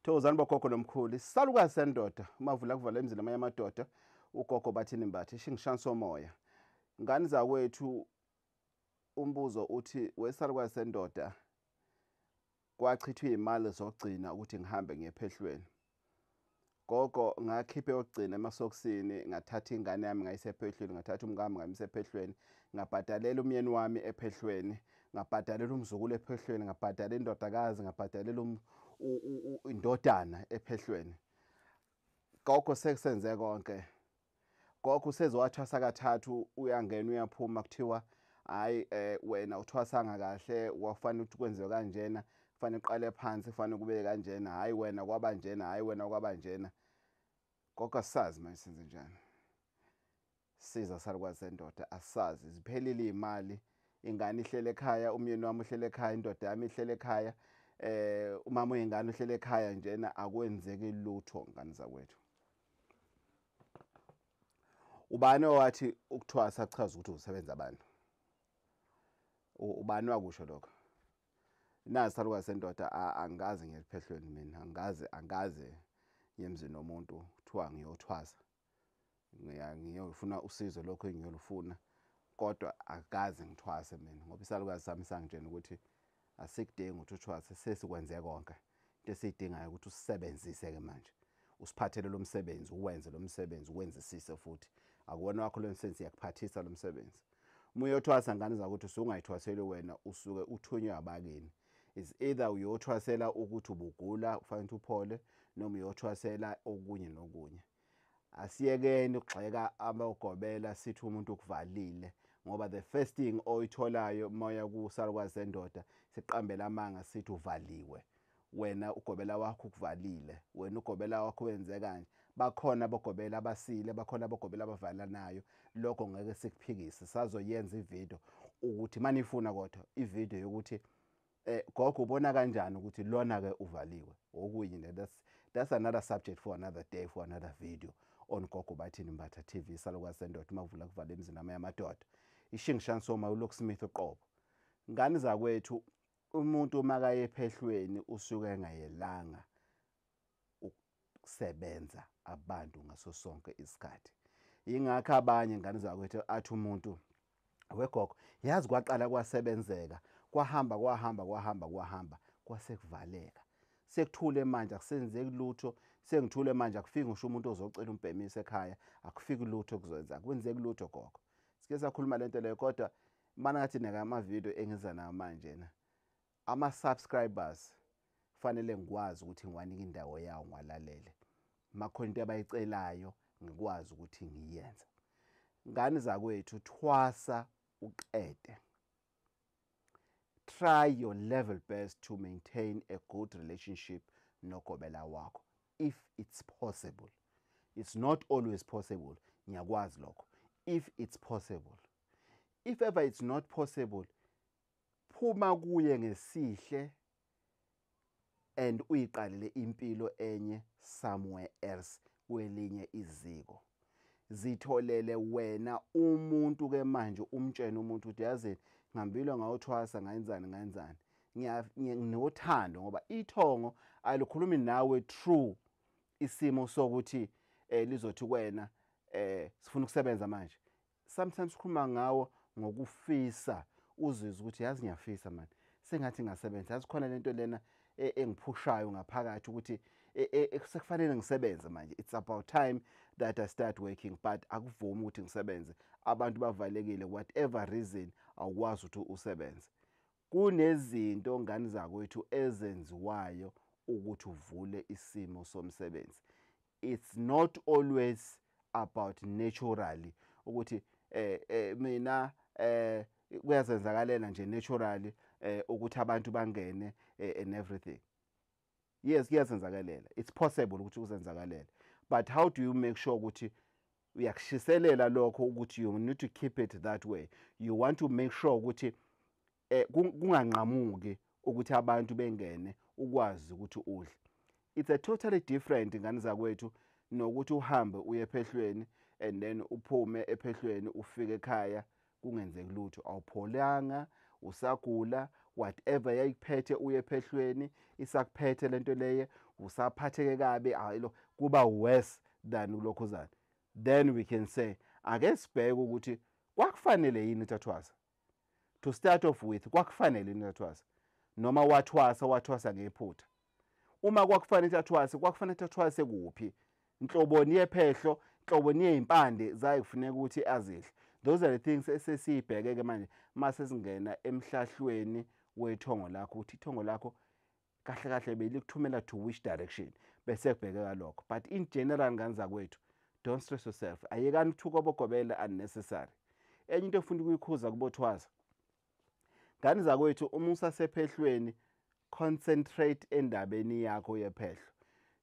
thokozani bogogo nomkhulu isalukazi sendoda umavula kuvala emzini amanye amadoda ugogo bathini mbathi shingishani somoya ngani zakwethu umbuzo uthi wesalukazi sendoda kwachithwa iy'mali zokugcina ukuthi ngihambe ngiyephehlweni Gogo ngakhipha eyokugcina emasokisini ngathatha ingane yami ngayisa ephehlweni ngathatha umkami ngamisa ephehlweni ngabhadalela umyeni wami ephehlweni ngabhadalela umzukulu ephehlweni ngabhadalela indodakazi ngabhadalela um, indodana ephehlweni gogo sekusenze konke gogo useze wathwasa kathathu uyangena uyaphuma kuthiwa hayi eh wena uthwasanga kahle wafanele ukuthi kwenziwe kanjena kufanele uqale phansi kufanele kube kanjena hayi wena kwaba njena hayi wena kwaba njena gogo asazi manje senze njani siza salukwazi sendoda asazi ziphelile iy'mali ingane ihlele ekhaya umyeni wami uhlele ekhaya indoda yami ihlele ekhaya eh umama uyingane uhlele ekhaya njena akwenzeki lutho ngane zakwethu ubani owathi ukuthwasa kuchaza ukuthi usebenza abantu ubani wakusho lokho nazi saluka sendoda angazi ngiyephehlweni mina angazi angazi yemzini nomuntu kuthiwa ngiyothwasa ngiyofuna usizo lokho engiyolufuna kodwa akaze ngithwase mina ngoba isalukazi sami sangitshena ukuthi Asikudingi ukuthi uthwase sesikwenze konke. Into esiyidingayo ukuthi usisebenzise ke manje. Usiphathele lo msebenzi, uwenze lo msebenzi, uwenzisise futhi. Akuwona wakho lo msebenzi, siyakuphathisa lo msebenzi. Uma uyothwasa ngane zakuthi usungayithwaseli wena usuke uthunywe abakini. Is either uyothwasela ukuthi ubugula ufanele ukuthi uphole noma uyothwasela okunye nokunye. asiyekeni ukugxeka abogobela sithi umuntu ukuvalile ngoba the first thing oyitholayo moya kusalukwazi sendoda siqambela amanga sithi uvaliwe wena ugobela wakho ukuvalile wena ugobela wakho wenze kanje bakhona abogobela abasile bakhona abogobela abavalanayo lokho ngeke sikuphikise sazoyenza ividiyo ukuthi manifuna kodwa ividiyo yokuthi Eh gogo ubona kanjani ukuthi lona ke uvaliwe okunye ne that's that's another subject for another day for another video on gogo bathini mbatha TV salokwa sendoda mavula kuvala emzini ama yamadoda ishingishan soma uLock Smith uqobo ngani zakwethu umuntu makayephehlweni usuke engayelanga ukusebenza abantu ngaso sonke isikhathi ingakho abanye ingane zakwethu athi umuntu wegogo yazi kwaqala kwasebenzeka kwahamba kwahamba kwahamba kwahamba kwasekuvaleka sekuthule manje akusenzeki lutho sengithule manje akufiki ngisho umuntu ozocela umbhemisa ekhaya akufiki lutho kuzoyenza kwenzeki lutho gogo sike sakhuluma lento leyo kodwa mana ngathi neka ama video engiza nawo manje na Ama subscribers fanele ngikwazi ukuthi ngiwanika indawo yawo ngiwalalele. Makhona into abayicelayo ngikwazi ukuthi ngiyenze. Ngani zakwethu thwasa uqede. Try your level best to maintain a good relationship nogobela wakho if it's possible. It's not always possible. Ngiyakwazi lokho. If it's possible. If ever it's not possible, Phuma kuye ngesihle and uyiqalele impilo enye somewhere else kwelinye iziko. Zitholele wena umuntu ke manje umtshene umuntu ukuthi yazini ngihambile ngawuthwasa ngayenzani ngayenzani. nginothando ngoba ithongo alikhulumi nawe true isimo sokuthi eh lizothi kwena eh sifuna ukusebenza manje sometimes sikhuluma ngawo ngokufisa uzizwe ukuthi yazi ngiyafisa mani sengathi ngasebenza yazi khona lento lena e, engiphushayo ngaphakathi ukuthi e, e, sekufanele ngisebenze manje it's about time that i start working but akuvumi ukuthi ngisebenze abantu bavalekile whatever reason awukwazi ukuthi usebenze kunezinto ngani zakwethu ezenziwayo ukuthi uvule isimo somsebenzi it's not always about naturally ukuthi eh, eh mina eh kuyazenzakalela nje naturally eh ukuthi abantu bangene eh, and everything yes kuyazenzakalela it's possible ukuthi kuzenzakalela but how do you make sure ukuthi uyakushiselela lokho ukuthi you need to keep it that way you want to make sure ukuthi eh kunganqamuki ukuthi abantu bengene ukwazi ukuthi udle it's a totally different ngani zakwethu nokuthi uhambe uye ephehlweni and then uphume ephehlweni ufike ekhaya kungenzeki lutho awupholanga usagula whatever yayikuphethe uye ephehlweni isakuphethe lento leye usaphatheke kabi ayilo kuba worse than ulokhuzana then we can say ake sibheke ukuthi kwakufanele yini thathwaza to start off with kwakufanele yini athwasa noma wathwasa wathwasa ngephutha uma kwakufanele athwase kwakufanele athwase kuphi inhloboni yephehlo inhloboni yezimpande zaye kufuneka ukuthi azidle those are the things esesiyibheke ke manje mase singena emhlahlweni wethongo lakho ukuthi ithongo lakho kahle kahle belikuthumela to which direction bese kubhekeka lokho but in general ngane zakwethu don't stress yourself ayekani ukuthuka obogobela unnecessary enye into efuna ukuyikhuza kubothwaza ngane zakwethu uma usasephehlweni concentrate endabeni yakho yephehlo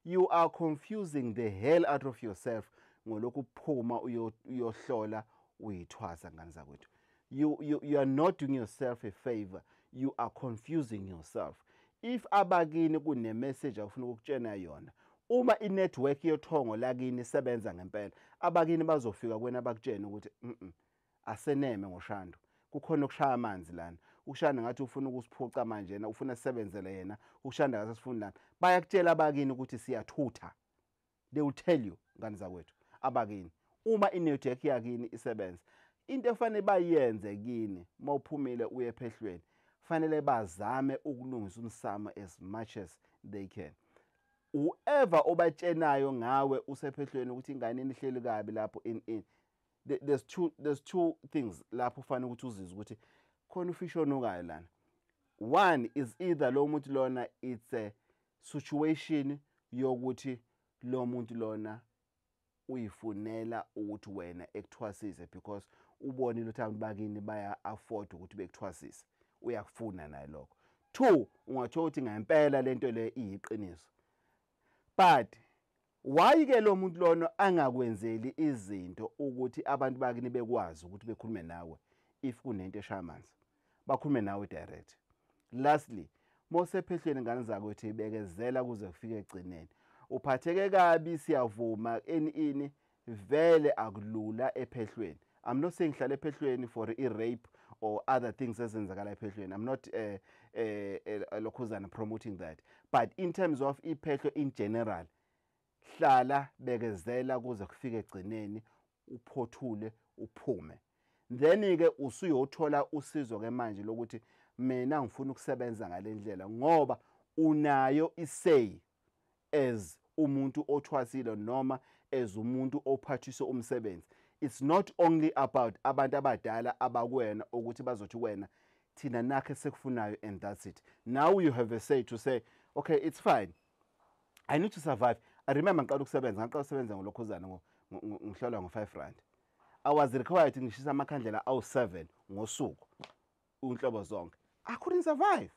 you are confusing the hell out of yourself ngolokhu phuma uyohlola uyithwasa ngane zakwethu you, you, you are not doing yourself a favor you are confusing yourself if abakini kunemessage akufuna ukukutshena yona uma inetwork yothongo lakini isebenza ngempela abakini bazofika kwena bakutshene ukuthi mm aseneme ngoshando kukhona okushaya amanzi lana ushanda ngathi ufuna ukusiphuca manje yena ufuna sisebenzele yena ushanda ngasesifuni lana bayakutshela abakini ukuthi siyathutha they will tell you ngani zakwethu abakini uma inetwork yakini isebenza into efanele bayenze kini uma uphumile uye ephehlweni fanele bazame ukulungisa umsamo as much as they can whoever obatshenayo ngawe usephehlweni ukuthi ingane inihleli kabi lapho in in there's two there's two things lapho ufanele ukuthi uzizwe ukuthi khona ufish onukayo lana one is either lo muntu lona it's a situation yokuthi lo muntu lona uyifunela ukuthi wena ekuthwasise because ubonile ukuthi abantu bakini baya-afford ukuthi bekuthwasise uyakufuna naye lokho two ungathola ukuthi ngempela le nto leyo iyiqiniso but Why ke lo muntu lona angakwenzeli izinto ukuthi abantu bakini bekwazi ukuthi bekhulume nawe if kunento eshaya amanzi bakhulume nawe direct lastly mosephehlweni ngane zakho ukuthi ibekezela kuze kufike egcineni uphatheke kabi siyavuma enini vele akulula ephehlweni I'm not saying hlala ephehlweni for i rape or other things ezenzakala ephehlweni. I'm not eh eh, eh lokhuzana promoting that. But in terms of iphehlo in general hlala bekezela kuze kufike egcineni uphothule uphume. Then ke usuyothola usizo ke manje lokuthi mina ngifuna ukusebenza ngalendlela ngoba unayo isay as umuntu othwasile noma as umuntu ophathiswe umsebenzi it's not only about abantu abadala abakwena ukuthi bazothi wena thina nakhe sekufunayo and that's it now you have a say to say okay it's fine i need to survive i remember ngiqala ukusebenza ngaqala ukusebenza ngolokhuzana ngihlolwa ngo-five rand i was required ngishisa amakhandlela awu-seven ngosuku unhlobo zonke i couldn't survive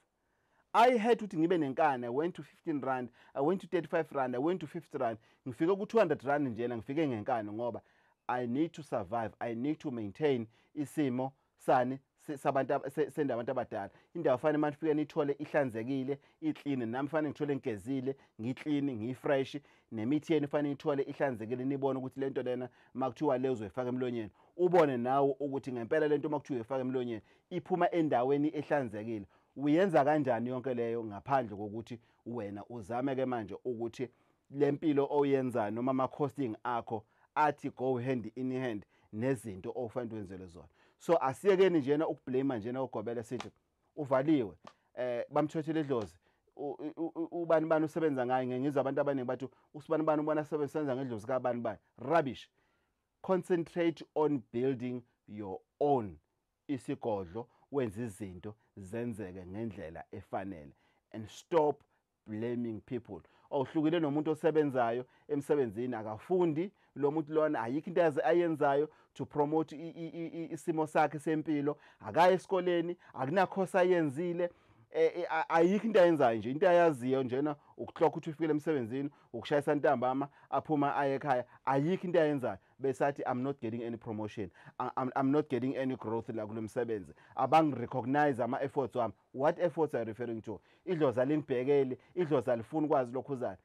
i had ukuthi ngibe nenkani i went to 15 rand i went to 35 rand i went to 50 rand ngifike ku-200 rand njena ngifike ngenkani ngoba i need to survive i need to maintain isimo sani sabantu senda abantu abadala indawo fanele manje ufike nithole ihlanzekile iclean nami fanele ngithole ngigezile ngiclean ngifresh nemithi yenu fanele ithole ihlanzekile nibone ukuthi le nto lena uma kuthiwa le uzoyifaka emlonyeni ubone nawe ukuthi ngempela le nto uma kuthiwa uyifaka emlonyeni iphuma endaweni ehlanzekile uyenza kanjani yonke leyo ngaphandle kokuthi wena uzame-ke manje ukuthi le mpilo oyenzayo noma ama-costing akho athi go hand in hand nezinto okufanele wenzele zona so asiyekeni njena ukublame njena ugobele sithi uvaliwe eh bamthwethile edlozi ubani bani usebenza ngaye ngengizwa abantu abaningi bathi usibani bani ubona sebenza ngedlozi kabani bani rubbish concentrate on building your own isigodlo wenza izinto zenzeke ngendlela efanele and stop blaming people awuhlukile nomuntu osebenzayo emsebenzini akafundi lo muntu lona ayikho into yaze ayenzayo to promote isimo sakhe sempilo akaye esikoleni akunakhosa ayenzile e, e, ayikho into ayenzayo nje into ayaziyo njena ukuhlokha ukuthi ufikele emsebenzini ukushayisa ntambama aphuma aye ekhaya ayikho into ayenzayo besathi i'm not getting any promotion I'm, i'm not getting any growth la kulo msebenzi abangirecognize ama-efforts wami What efforts are you referring to? Idlozi alimbhekeli, idlozi alifuni kwazi lokhuzana.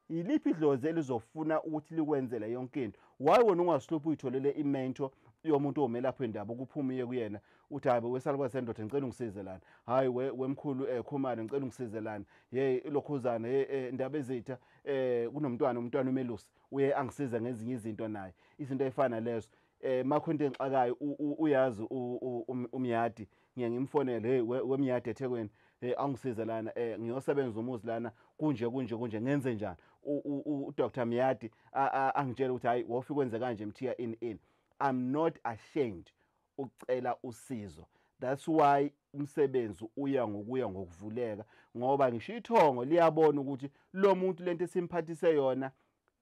Yiliphi idlozi elizofuna ukuthi likwenzele yonke into? Why wena ungasiluphi uyitholele imento yomuntu omelaphi wendaba ukuphuma uye kuyena uthi hayi wesalukwazi sendoda ngicela ungisize lana hayi we wemkhulu um eh, khumane ngicela ungisize lana ye ilokhuzana ye eh, ndaba ezitha um kunomntwana umntwana umelusi uye angisize ngezinye izinto naye izinto ey'fana lezo eh makho into engixakayo uyazi um, umyadi ngiye ngimfonele hey wemyadi eThekwini hey angisize lana eh ngiyosebenza umuzi lana kunje kunje kunje ngenze njani uDr Myadi angitshela ukuthi hayi wofika kwenze kanje mthiya in in i'm not ashamed ukucela usizo that's why umsebenzi uya ngokuya ngokuvuleka ngoba ngisho ithongo liyabona ukuthi lo muntu lento esimphathise yona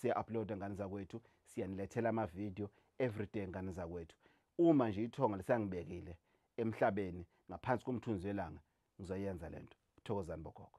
siya-uploada ngane zakwethu siyanilethela amavidiyo everyday ngane zakwethu uma nje ithonga lisangibekile emhlabeni ngaphansi komthunzi welanga ngizoyenza le nto thokozani bogogo